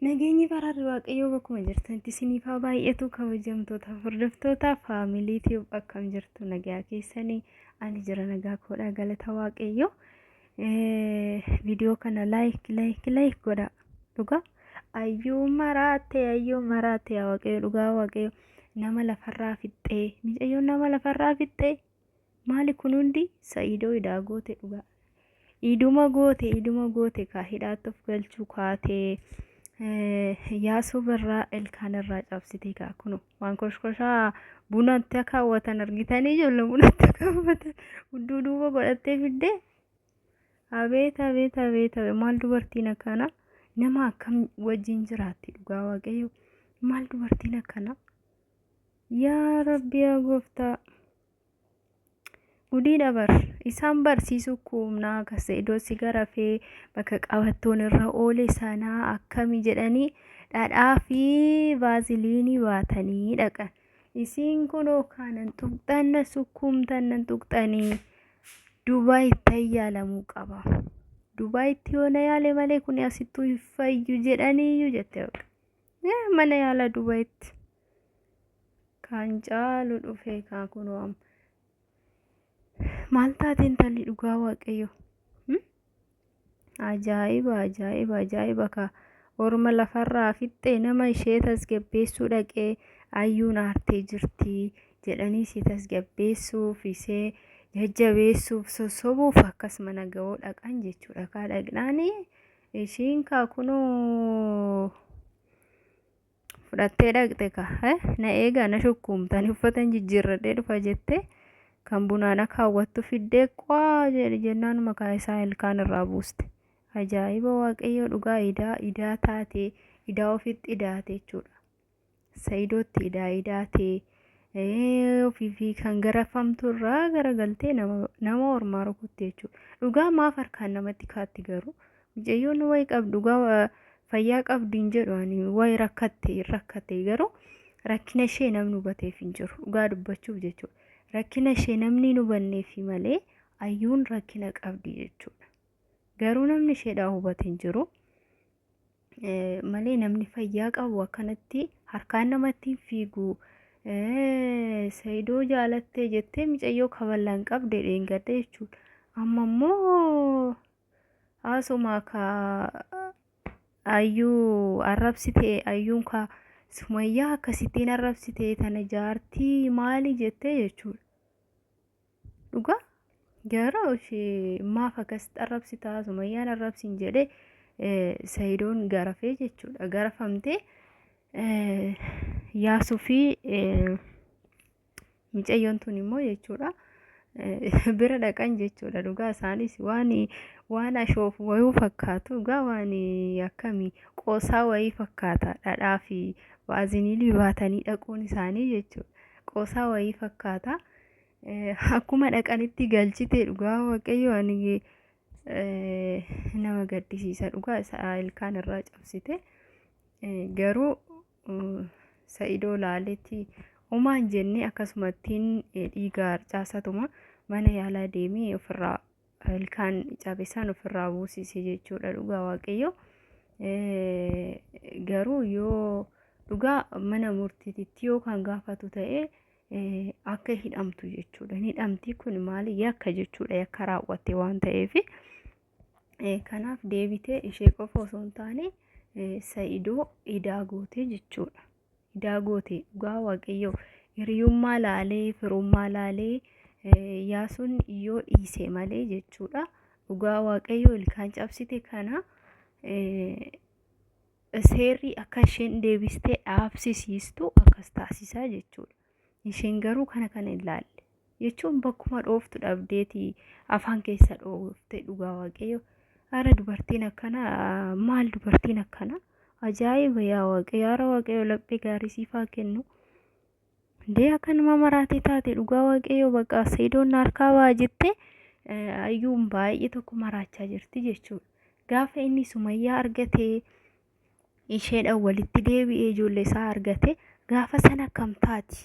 Nageenyi faraarri waaqayyoo bakkuma jirtanitti isiniif haa baay'atu kabajamtoota hordoftoota faamilii tiib akkam jirtu nagaa keessanii ani jira nagaa koodha galata waaqayyoo viidiyoo kana laayik laayik laayik godha dhugaa ayyuu maraate ayyuu maraate yaa waaqayyo dhugaa waaqayyo nama lafarraa fixxee micayyoon nama lafarraa fixxee Maali kun hundi sa'iidoo idaa goote dhugaa. Iduma goote iduma goote kaa hidhaatti of galchuu kaatee eh, yaasoo barraa ilkaan irraa cabsite kaa kunu waan koshkoshaa bunatti akka hawwatan argitanii ijoollee bunatti akka hawwatan hudduu duuba godhattee fiddee abeet abeet abeet abeet maal dubartiin akkana nama akkam wajjin jiraatti dhugaa waaqayyo maal dubartiin akkana Yaa Rabbi yaa gooftaa. Gudiidha bar. Isaan barsiisuu kuumnaa akka seedoo sigara fee bakka qabattoon irra oole sanaa akkami jedhanii dhadhaa fi vaaziliinii baatanii dhaqan. Isiin kunoo kaanan tuqxan na sukkuumtan nan tuqxanii Dubaayitti ayyaalamuu qaba. Dubaayitti yoo na yaale malee kun asittuu hin fayyu jedhaniiyyu jette bakka. Yaa mana yaala Dubayitti kan caalu dhufee kaa kunoo amma. Maal taate intalli dhugaa waaqayyo? Hmm? Ajaa'iba ajaa'iba ajaa'iba kaa orma lafarraa fixxee nama ishee tasgabbeessuu dhaqee ayyuun aartee jirti jedhanii ishee tasgabbeessuuf ishee jajjabeessuuf sossobuuf akkas mana ga'oo dhaqan jechuudha kaa dhaqnaanii. Ishiin kaa kunoo fudhattee dhaqxe ka eh, na eegaa na shukkuumtani uffatan jijjiirradhee dhufa jettee kan bunaana kaawwattu fiddee qwaa jedhe jennaan makaa isaa ilkaan irraa buuste. Ajaa'iba waaqayyoo dhugaa idaa idaa taatee idaa ofitti idaate jechuudha. Sa'idootti idaa idaa tee ofiifi kan garafamtu irraa garagaltee nama nama ormaa rukutti jechuudha. Dhugaa maaf harkaan namatti kaatti garuu mucayyoon wayi qabdu dhugaa fayyaa qabdu hin jedhu ani wayi rakkatte hin rakkatte garuu rakkina ishee namni hubateef hin jiru dhugaa dubbachuuf jechuudha. Rakkina ishee namni hin hubanneefi malee ayyuun rakkina qabdi jechuudha. Garuu namni isheedhaa hubate hin jiru. malee namni fayyaa qabu akkanatti harkaan namatti hin fiigu. Sayidoo jaalattee jettee micayyoo kaballaan qabde dheengadde jechuudha. Amma immoo haasumaa ka ayyuu arrabsitee ayyuun ka sumayyaa akkasittiin arrabsitee tana jaartii maali jettee jechuudha. Dhugaa gara ishee maaf akkas xarrabsitaa sumayyaan arrabsiin jedhe sayidoon garafee jechuudha garafamtee yaasuu fi micayyoon tun immoo jechuudha bira dhaqan jechuudha dhugaa isaanis waan waan ashoof wayuu fakkaatu dhugaa waan akkamii qoosaa wayii fakkaata dhadhaa fi waazinilii baatanii dhaquun isaanii jechuudha qoosaa wayii fakkaata. Akkuma dhaqanitti galchite dhugaa waaqayyo ani nama gaddisiisa dhugaa isaa ilkaan irraa cabsite garuu sa'idoo laaletti umaan jennee akkasumattiin dhiiga harcaasatuma mana yaalaa deemee ofirraa ilkaan cabisaan ofirraa buusise jechuudha dhugaa waaqayyo garuu yoo dhugaa mana murtiititti yoo kan gaafatu ta'ee akka hidhamtu jechuudha. Hin hidhamti kun maali yakka jechuudha yakka raawwatte waan ta'eef kanaaf deebitee ishee qofa osoo hin taane sa'idoo idaa gootee jechuudha. Idaa gootee dhugaa waaqayyoo hiriyummaa laalee firummaa laalee yaasuun yoo dhiise malee jechuudha. Dhugaa waaqayyoo ilkaan cabsite kana. seerri akka isheen deebistee dhaabsisiistu akkas taasisaa jechuudha. Isheen garuu kana kana hin laalle. Jechuun bakkuma dhooftu dhabdeeti afaan keessa dhoofte dhugaa waaqayyo. Ara dubartiin akkana maal dubartiin akkana ajaa'iba yaa waaqayyo ara waaqayyo laphee gaarii siifaa kennu. Dee akkanuma maraatee taate dhugaa waaqayyoo bakka seedoon harkaa ba'a jette ayyuun baay'ee tokko maraachaa jirti jechuudha. Gaafa inni sumayyaa argatee isheedhaan walitti deebi'ee ijoollee isaa argate gaafa sana akkam taati?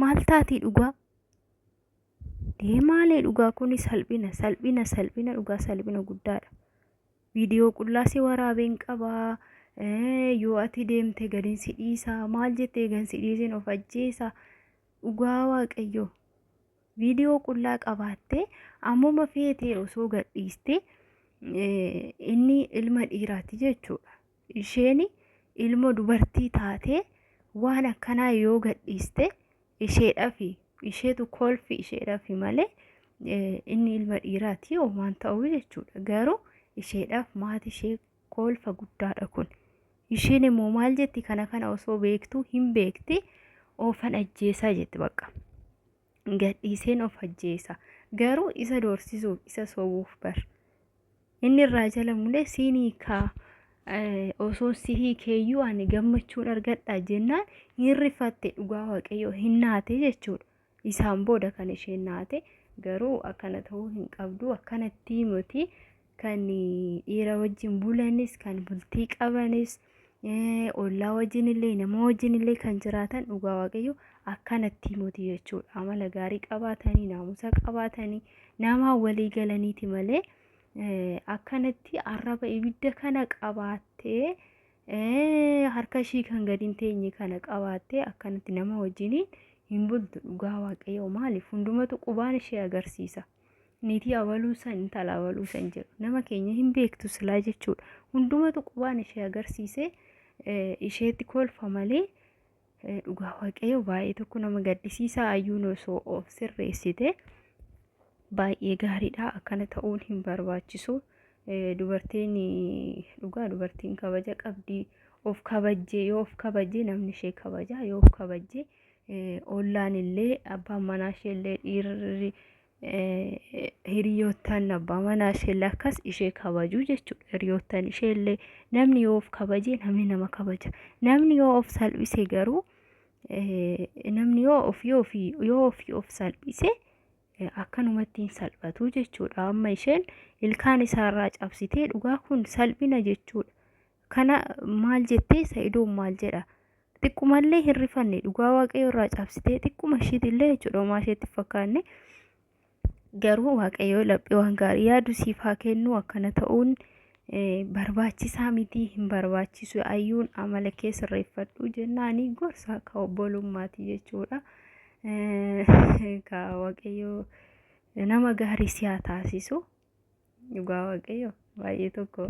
Maal taati dhugaa? Dee maalee dhugaa kuni salphina salphina salphina dhugaa salphina guddaadha. Viidiyoo qullaa si waraabeen qaba. Yoo ati deemte gadin si dhiisa. Maal jettee gan si dhiisin of ajjeesa. Dhugaa waaqayyoo. Viidiyoo qullaa qabaattee ammuma feetee osoo gadhiiste inni ilma dhiiraati jechuudha. Isheen ilmo dubartii taatee waan akkanaa yoo gadhiiste isheedhafi isheetu kolfi isheedhafi malee eh, inni ilma dhiiraati homaan ta'uu jechuudha garuu isheedhaaf maati ishee kolfa guddaadha kun isheen immoo maal jetti kana kana osoo beektuu hin beekti oofan ajjeesaa jetti bakka gadhiiseen of ajjeesa garuu isa doorsisuuf isa sobuuf bar inni irraa jala mulee siin hiikaa eh, osoo si hiikeeyyuu ani gammachuun argadha jennaan hin rifatte dhugaa waaqayyoo hin naate jechuudha isaan booda kan isheen naate garuu akkana ta'uu hin qabdu akkanatti miti kan dhiira wajjin bulanis kan bultii qabanis ollaa wajjin illee nama wajjin illee kan jiraatan dhugaa waaqayyo akkanatti moti jechuudha amala gaarii qabaatanii naamusa qabaatanii namaa walii galaniiti malee akkanatti arraba ibidda kana qabaattee harka ishii kan gadi hin teenye kana qabaattee akkanatti nama wajjiniin hin bultu dhugaa waaqayyo maaliif hundumatu qubaan ishee agarsiisa. niitii abaluu san intala abaluu san jedhu nama keenya hin beektu silaa jechuudha hundumatu qubaan ishee agarsiisee isheetti kolfa malee dhugaa waaqayyo baay'ee tokko nama gaddisiisaa ayyuun osoo of sirreessite baay'ee gaariidha akkana ta'uun hin barbaachisu dubartiin dhugaa dubartiin kabaja qabdi of kabajjee yoo of kabajjee namni ishee kabaja yoo of kabajjee Ollaanillee abbaan manaa isheellee dhiirri hiriyoottan abbaa manaa isheellee akkas ishee kabajuu jechuudha. Hiriyoottan isheellee namni yoo of kabaje namni nama kabaja. Namni yoo of salphise garuu namni yoo ofii ofii yoo ofii of salphise akkanumatti hin salphatu jechuudha. Amma isheen ilkaan isaarraa cabsitee dhugaa kun salphina jechuudha. Kana maal jettee sa'idoon maal jedha? xiqqumallee hin rifanne dhugaa waaqayyo irraa cabsitee xiqquma ishiitillee jechuudha homaa isheetti fakkaanne garuu waaqayyo laphee waan gaarii yaadu siif haa kennu akkana ta'uun barbaachisaa miti hin barbaachisu ayyuun amala kee sirreeffadhu jennaanii gorsaa ka obbolummaati jechuudha ka waaqayyo nama gaarii si haa taasisu dhugaa waaqayyo baay'ee tokko.